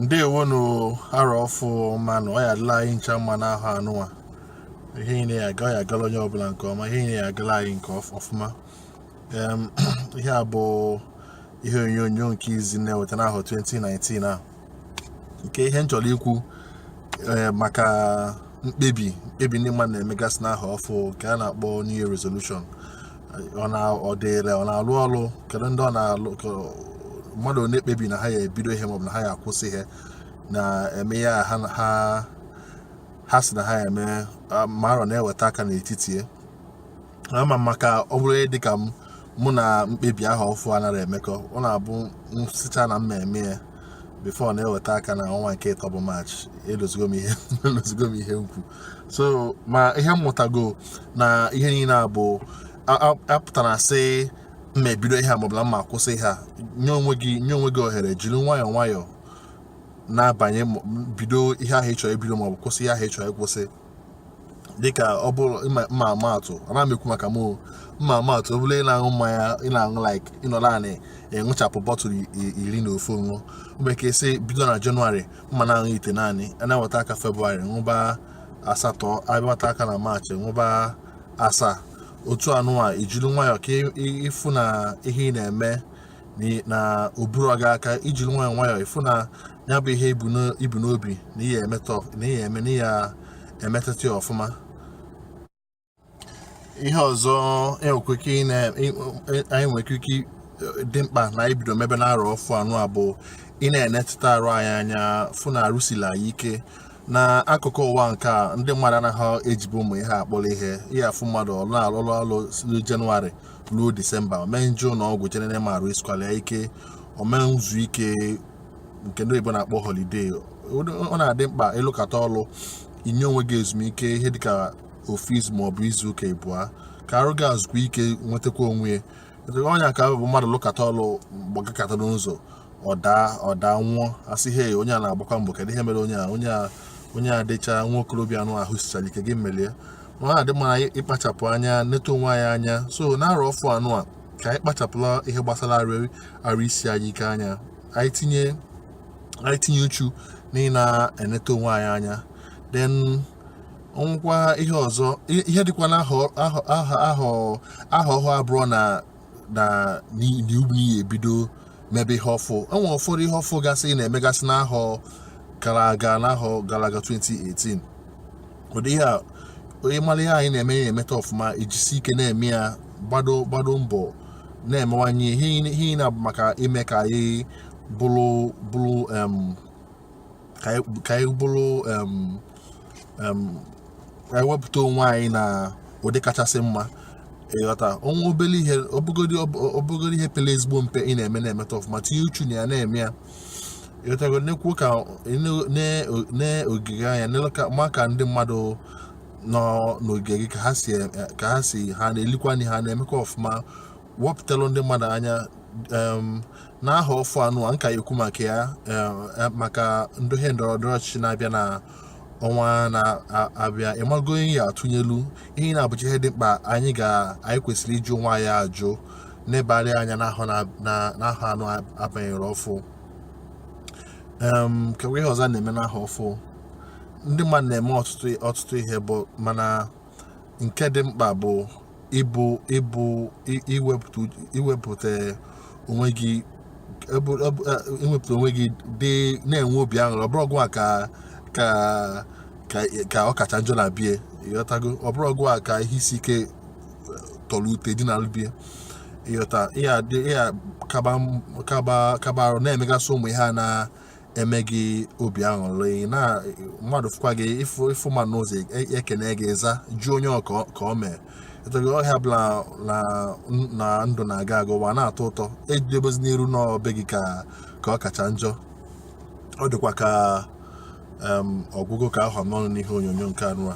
ndewonụ arọ ọfụ ọma nụ ọ ya adịla anyị ncha mma n'ahọ anụnwa ihe niile ya aga ọ ya agala onye ọbụla nke ọma ihe niile ya agala anyị nke ọf- ọfụma Em, ihe a bụ ihe onyonyo nke izi na-eweta n'ahọ 2019 a nke ihe m chọrọ ikwu eh, maka mkpebi mkpebi ndị mmadụ na-emegasị n'ahọ ọfụ nke a na-akpọ new year resolution ọ na ọ dịịrị ọ na-alụ ọrụ kedu ndị ọ na-alụ ka mmadụ na-ekpebi na ha ya ebido ihe maọbụ na ha ya akwụsị ihe na-eme ya ha ha ha sị na ha ya eme ah, ma arọ na-eweta aka n'etiti ya ama m maka ọ bụrụ ihe dịka m mụ na mkpebi ahọ ọfụ anaghị emekọ ọ na-abụ m sịcha na m ma eme ya before na-eweta aka na ọnwa nke ịtọ bụ maachị elozogo m ihe elozogo m ihe m kwu so ma ihe m mụtago na ihe niile a bụ apụtana sị m ma ebido ihe a maọbụ na m ma akwụsị ihe a nye onwe gị nye onwe gị ohere jiri nwayọọ nwayọọ na-abanye bido ihe ahụ ị chọrọ ibido maọbụ kwụsị ihe ahụ ị chọrọ ịkwụsị dịka ọ bụrụ m ma ama atụ ana m ekwu maka m m ma ama atụ ọ bụrụ ị na-aṅụ mmanya ị na-aṅụ like ị nọla anị ṅụchapụ bottle iri n'ofu ṅụ mgbe ka esi bido na jenụwarị m ma na-aṅụ itenaanị a na-eweta aka febrụwarị ṅụba asatọ a bịa weta aka na maachị ṅụba asaa otu anụwa i jiri nwayọọ ka ị fụ na ihe ị na-eme na o buru gị aka i jiri nwayọọ nwayọọ ị fụ na ya bụ ihe i bu n'obi na i ya eme na i ya emeta ya ọfụma ihe ọzọ e e, e, anyị nwere ike dị mkpa na anyị bido mebe n'arọ ọfụ anụwa bụ ịna-enetụta arụ anyị anya fụ na arụ sila anyị ike n'akụkụ ụwa nke a ndị mmadụ anaghị ejibu ụmụ ihe akpọrọ ihe i ya afụ mmadụ ọ na-alụrụ ọrụ na jenụwarị ruo disemba ọ ma eje ụnọ ọgwụ je nene ma arụ esikwala ya ike ọ ma ezu ike nke ndị oyibo na-akpọ holiday ọ na-adị mkpa ị lụkata ọrụ i nye onwe gị ezumike ihe dịka ofu izu ma ọ bụ izu ụka ịbụa ka arụ gị zukwa ike nwetakwa onwe ya ọ ya ka bụ mmadụ lụkata ọlụ gbagakata n'ụzọ ọ daa ọ daa nwụọ a sị he onye a na-agbakwa mbọ kedu ihe mere onye a onye a onye a dịcha nwa okorobịa anụwa ahụ sichara ike gịnị mere ya ọ na-adị mma anyị ịkpachapụ anya neta onwe anyị anya so n'arọ ọfụ anụwa ka anyị kpachapụla ihe gbasara arụ isi anyị ike anya anyị tinye anyị tinye uchu na ịna-eneta onwe anyị anya then o nwekwa ihe ọzọ ihe dịkwa na ahọ ọhụụ abụrọ na na n'ugwu n'iyi ebido mebe ihe ọfụ enwere ụfọdụ ihe ọfụ gasị na-emegasị n'ahọ gara aga n'ahọ gara aga 2018 ụdị ihe a onye mara ihe anyị na-eme na-emeta ọfụma ejisi ike na-eme ya gbado gbado mbọ na-emewanye ihe na-abụ maka ime ka anyị bụrụ bụrụ ka anyị bụrụ anyị wepụta onwe anyị na ụdị kachasị mma ịghọta o nwee obere ihe ọ bụgodu ihe pere ezigbo mpe ị na-eme na-emeta ọfụma tinye uchu na ya na-eme ya ịghọtago nekwuokwa n'ogige anya maka ndị mmadụ nọ n'ogige gị ka ha si ha na-elikwa nri ha na-emekwa ọfụma wepụtalụ ndị mmadụ anya em, n'ahọ ọfụ anụa m ka ya-ekwu maka ya em, eh, maka ndị ihe ndọrọ ndọrọ ọchịchị na-abịa na ọnwa na-abịa ị mago onye ị ya-atụnyelu ihe ndị a bụcha ihe dị mkpa anyị ga anyị kwesịrị ịjụ onwe anyị ajụ nebarị anya n'ahọ na- na- n'ahọ anụa a banyere ọfụ em keekwa ihe ọzọ a na-eme n'ahọ ọfụ ndị mmadụ na-eme ọtụtụ ọtụtụ ihe bụ mana nke dị mkpa bụ ịbụ ịbụ iwepụta onwe gị iwepụta onwe gị dị na-enwe obi aṅụrị ọ bụrọ gịwa ka ka ka ọ kacha njọ na bie ịghọtago ọ bụrọ gịwa ka ihe isi ike eh, tọrọ ute dinalụ bie ịghọta ị ya-akaba arụ na-emegasị ụmụ ihe a na eme gị obi aṅụrị na mmadụ fụkwa gị ịfụ ịfụ mmadụ n'ụzọ e- ekene gị ị za jụọ onye ọ ka ọ- ka o mee ịghọtago ihe ọ bụla na na ndụ na-aga aga ụwa na-atọ ụtọ edebezina iru na ọ be gị ka ka ọ kacha njọ ọ dịkwa ka em, ọ gwụgo ka ọ ha m n'ọnụ n'ihe onyonyo nke anụa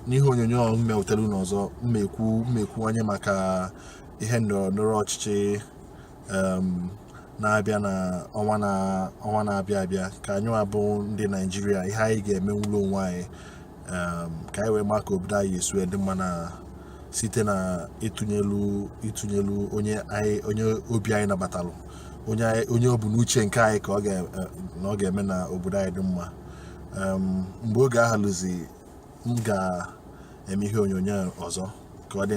n'ihe onyonyo ọhụrụ m ya-ewetara unu ọzọ m ya-ekwu m ya-ekwuwanye maka ihe ndọrọ ndọrọ ọchịchị na-abịa na ọnwa na-abịa abịa ka anyịwa bụ ndị naịjirịa ihe anyị ga-emenwulu onwe anyị ka anyị wee maa ka obodo anyị ya-esi dị mma na site na ịtụnyelu ịtụnyelu onye onye obi anyị nabatalụ onye ọ bụ n'uche nke anyị ka ọ ga-eme na obodo anyị dị mma mgbe oge ahụ luzie m ga-eme ihe onyonyo ọzọ ka ọ dị